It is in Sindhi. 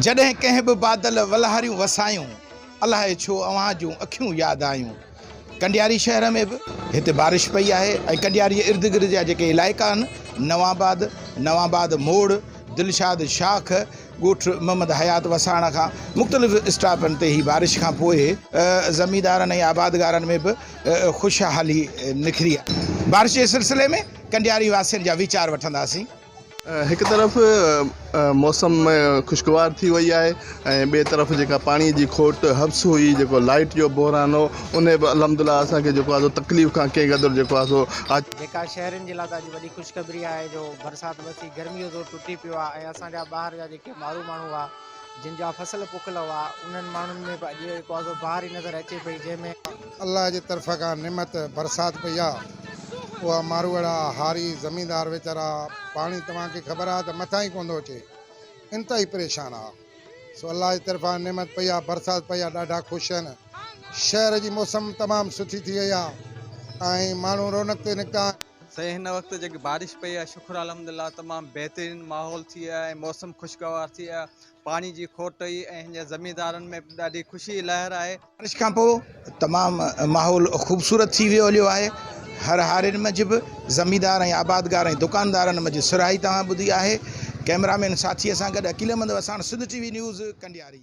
جڏهن ڪنهن به بادل ولهاريون وسايون، الاهي ڇو اوهان جون اکيون ياد آيون. ڪنڊياري شهر ۾ به هتي بارش پئي آهي ۽ ڪنڊياري جي ارد گرد جا جيڪي علائقا آهن نوان آباد، نوان آباد موڙ، دلشاد شاخ، ڳوٺ محمد حيات وساڻ کان مختلف اسٽاپن تي هي بارش کان پوء زميندارن ۽ آبادگارن ۾ به خوشحالي نکري آهي. بارش جي سلسلي ۾ ڪنڊياري واسين جا ويچار وٺنداسين. هڪ طرف موسم خوشگوار ٿي وئي آهي ۽ ٻئي طرف جيڪا پاڻي جي کوٽ حبس هئي جيڪو لائيٽ جو بحران هو ان به الحمدلله اسان کي جيڪو آهي سو تڪليف کان ڪنهن قدر جيڪو آهي سو آج جيڪا شهرين جي لاء ته اڄ وڏي خوشخبري آهي جو برسات وسي گرمي جو زور ٽٽي پيو آهي ۽ اسان جا ٻاهر جا جيڪي مارو ماڻهو هئا جن جا فصل پوکل هئا، انهن ماڻهن ۾ به اڄ تازو بهار ئي نظر اچي پئي، جنهن ۾. الله جي طرف کان نعمت، برسات، پئي آ، اها ماروئڙا، هاري، زميندار ويچارا، پاڻي توهان کي خبر آ ته مٿان ئي ڪونه ٿو اچي، انتهائي پريشان آ، سو الله جي طرفان نعمت پئي آ، برسات پئي آ، ڏاڍا خوش آهن، شهر جي موسم تمام سٺي ٿي وئي آ ۽ ماڻهو رونق تي نڪتا آهن. سائين هن وقت جيڪي بارش پئي آهي شڪر الحمدلله تمام بهترين ماحول ٿي ويو آهي موسم خوشگوار ٿي ويو آهي پاڻي جي کوٽ هئي ۽ هن جي زميندارن ۾ به ڏاڍي خوشي جي لهر آهي. بارش کان پوء تمام ماحول خوبصورت ٿي ويو هليو آهي هر هارين منجهه به زميندار ۽ آبادگار ۽ دڪاندارن منجهه سرهائي توهان ٻڌي آهي ڪئميرا مين ساٿيء سان گڏ Aqeel Ahmed Wassan Sindh T V news ڪنڊياري.